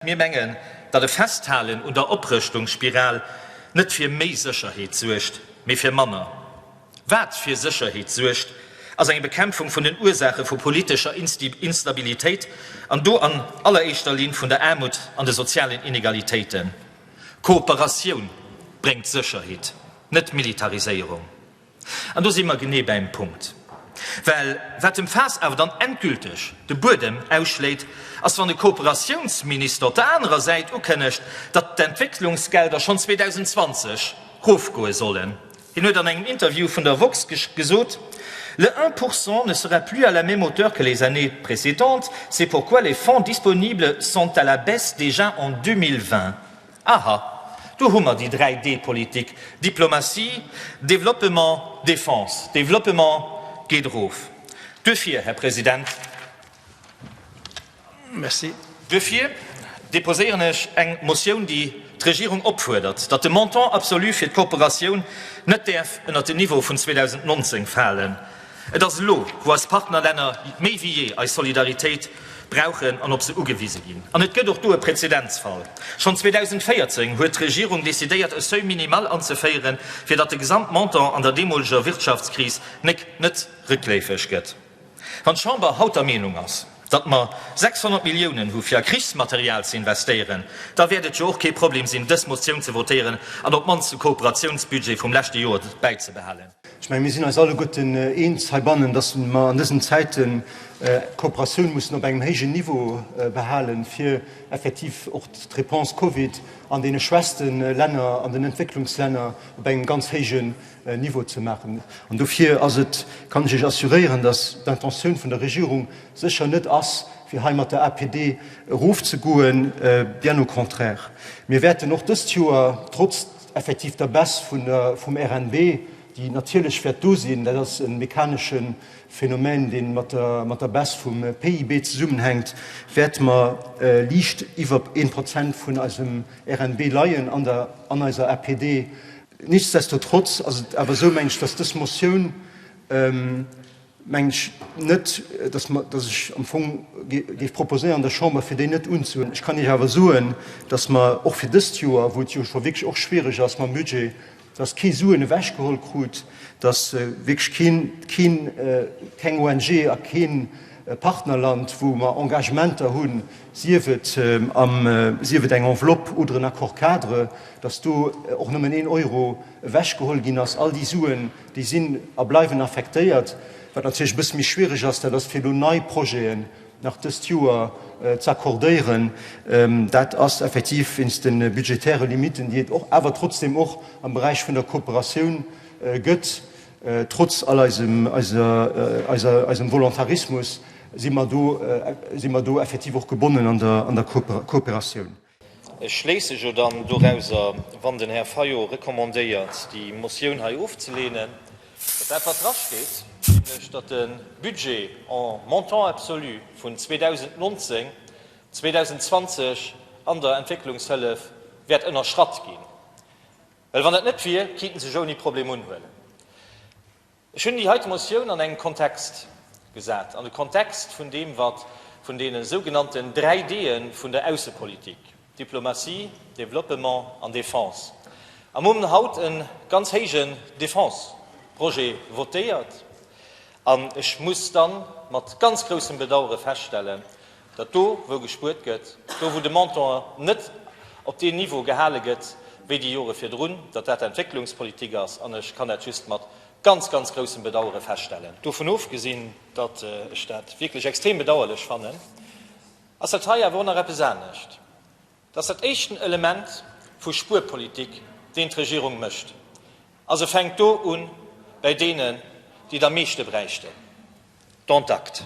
Mir mengen, datt e Festhalen un der Oprëschtungsspiral net fir méi Sécherheet suergt, mee fir manner. Wat fir Sécherheet suergt, ass eng Bekämpfung vun den Ursaache vu politescher Instabilitéit, an do an alleréischter Linn vun der Aarmut an de sozialen Inegalitéiten. Kooperatioun bréngt Sécherheet, net Militariséierung. An do si mer genee bäim Punkt. Well wat dem Faass awer dann endgülteg de Buedem ausschléit, ass wann de Kooperatiounsminister op der anerer Säit ukënnegt, datt d'Entwécklungsgelder schonn 2020 rofgoe sollen. Hien huet an engem Interview vun der woxx gesot, Le 1 pourcent ne sera plus à la même hauteur que les années précédentes, c'est pourquoi les fonds disponibles sont à la baisse déjà en 2020. Aha, do hu mer déi 3 D Politik, Diplomatie, Développement, Défense. Développement geet erof. Duerfir, Här President, duerfir deposéieren ech eng Motioun, déi d'Regierung opfuerdert, datt de Montant absolu fir d'Kooperatioun net däerf ënnert den Niveau vun 2019 falen. Et ass elo, wou eis Partnerlänner méi wéi jee eis Solidaritéit brauchen an op se ugewise ginn. An et gëtt och do e Präzedenzfall. Schonn 2014 huet d'Regierung decidéiert, e Seuil minimal anzeféieren, fir datt de Gesamtmontant an der deemoleger Wirtschaftskris nek net réckléifeg gëtt. Wann d'Chamber haut der Meenung ass, datt mer 600 Milliounen hu fir a Krichsmaterial ze investéieren, da wäert et jo och kee Problem sinn, dës Motioun ze votéieren an op d'mannst de Kooperationsbudget vum leschte Joer bäizebehalen. Ech menge mir sinn eis alleguerten eens heibannen, dass mer an dësen Zäiten d'Kooperatioun mussen op engem héijen Niveau behalen, fir effektiv och d'Réponse Covid an deene schwächste Länner, an den Entwécklungslänner op engem ganz héijen Niveau ze maachen. An dofir ass et, kann ech Iech assuréieren, dass d'Intentioun vun der Regierung sécher net ass, fir hei mat der APD erofzegoen, bien au contraire. Mir wäerten och dëst Joer, trotz, Effektiv der Baisse vun der, vum RNB, déi natierlech wäert do sinn. Dat ass e mechanesche Phänomen, dee mat der, mat der Baisse vum PIB zesummenhänkt, wäerte mer liicht iwwer ee Prozent vun eisem RNB leien an der, an eiser APD. Nichtsdestotrotz ass et awer esou, meng ech, dass dës Motioun, mengen ech net, dass mer, dass ech am Fong géif proposéieren der Chamber, fir déi net unzuhuelen. Ech kann Iech awer soen, dass mer och fir dëst Joer, wou et jo scho wierklech och schwierig ass mam Budget, dass kee Suen ewechgeholl krut, dass wierklech keen, keen, keng ONG a kee Partnerland, wou mer Engagementer hunn, sief et am, sief et eng Enveloppe oder en Accord-cadre, dass do och nëmmen een Euro ewechgeholl ginn ass. All déi Suen Déi sinn a bleiwen affektéiert. Wat natierlech e bësse méi schwierig ass, dat ass fir elo nei Projeten nach dëst Joer z'accordéieren. Dat ass effektiv wéinst de budgetäre Limiten, déi et och awer trotzdem och am Beräich vun der Kooperatioun gëtt. Trotz all eisem, eiser, eiser, eisem Volontarismus si mer do, si mer do effektiv och gebonnen an der, an der Kooperatioun. Ech schléisse jo dann dorauser, wann den Här Fayot recommandéiert, déi Motioun hei ofzelehnen, datt dat, wat drasteet, nämlech datt de Budget en montant absolu vun 2019, 2020 an der Entwécklungshëllef wäert ënnerschratt ginn. Well wann dat net wier, kéinte sech ouni Problem unhuelen. Ech hunn déi heite Motioun an engem Kontext gesat, an de Kontext vun deem, wat vun deene sougenannten dräi Dee vun der Aussepolitik, Diplomatie, Développement an Défense, a mum haut e ganz héijen Défense-Projet votéiert. An ech muss da mat ganz groussem Bedauere feststellen, datt do wou gespuert gëtt, do wou de Montant net op deen Niveau gehale gëtt wéi déi Jore virdrun, datt dat Entwécklungspolitik ass an ech kann dat just mat ganz, ganz groussem Bedauere feststellen. Dovun ofgesinn, datt ech dat wierklech extrem bedauerlech fannen, ass dat hei awer och nach eppes anescht. Et ass dat éischten Element vu Spuerpolitik, deen d'Regierung mécht, a se fänkt do u bäi deenen, déi et am meeschte bräichten, dont acte.